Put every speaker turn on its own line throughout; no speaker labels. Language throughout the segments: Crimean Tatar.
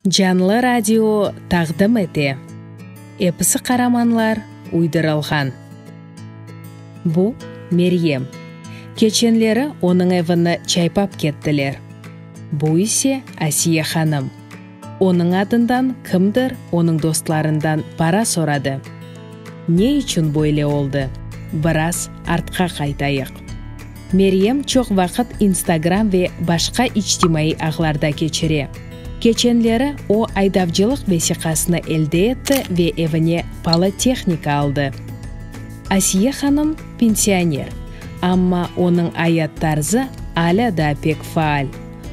Canlı radio taqdim ete. Episi qaramanlar uydurılğan. Bu, Meryem. Keçenleri onıñ evini çaypap kettiler. Bu ise Asiye hanım. Onıñ adından kimdir onıñ dostlarından para soradı. Ne içün böyle oldı? Biraz artqa qaytayıq. Meryem çoq vaqıt Instagram ve başqa içtimaiy ağlarda keçire. Keçenleri o aydavcılıq vesiqasını elde etti ve evine palı tehnika aldı. Asiye hanım, pensioner, amma onıñ ayat tarzı alâ daa pek faal.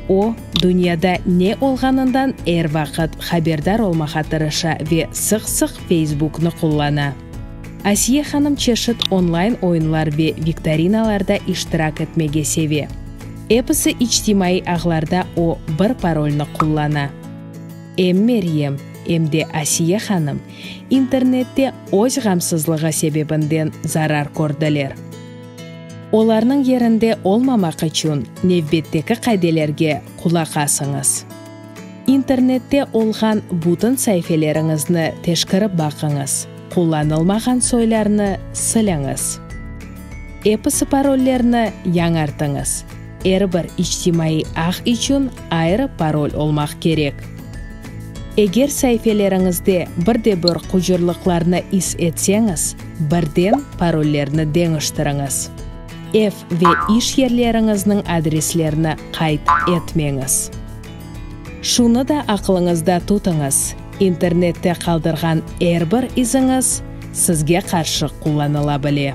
O, dünyada ne olğanından er vaqıt haberdar olmağa tırışa ve sıq-sıq Feysbuknı qullana. Asiye hanım çeşit onlayn oyunlar ve viktorinalarda iştirak etmege seve. Episi içtimaiy ağlarda o bir parolnı qullana. Em Meryem, em de Asiye hanım internette öz ğamsızlığı sebebinden zarar kördiler. Olarnıñ yerinde olmamaq içün nevbetteki qaidelerge qulaq asıñız. İnternette olğan bütün saifeleriñizni teşkerip baqıñız, qullanılmağan soylarnı siliñiz. Episi parollerni yañartıñız, er bir içtimaiy ağ içün ayrı parol olmaq kerek. Eger saifeleriñizde bir de bir qucurlıqlarnı is etseñiz, Birden parollerni deñiştiriñiz. Ev ve iş yerleriñizniñ adreslerini qayd etmeñiz. Şunı da aqlıñızda tutıñız, internette qaldırğan er bir iziñiz sizge qarşı qullanıla bile.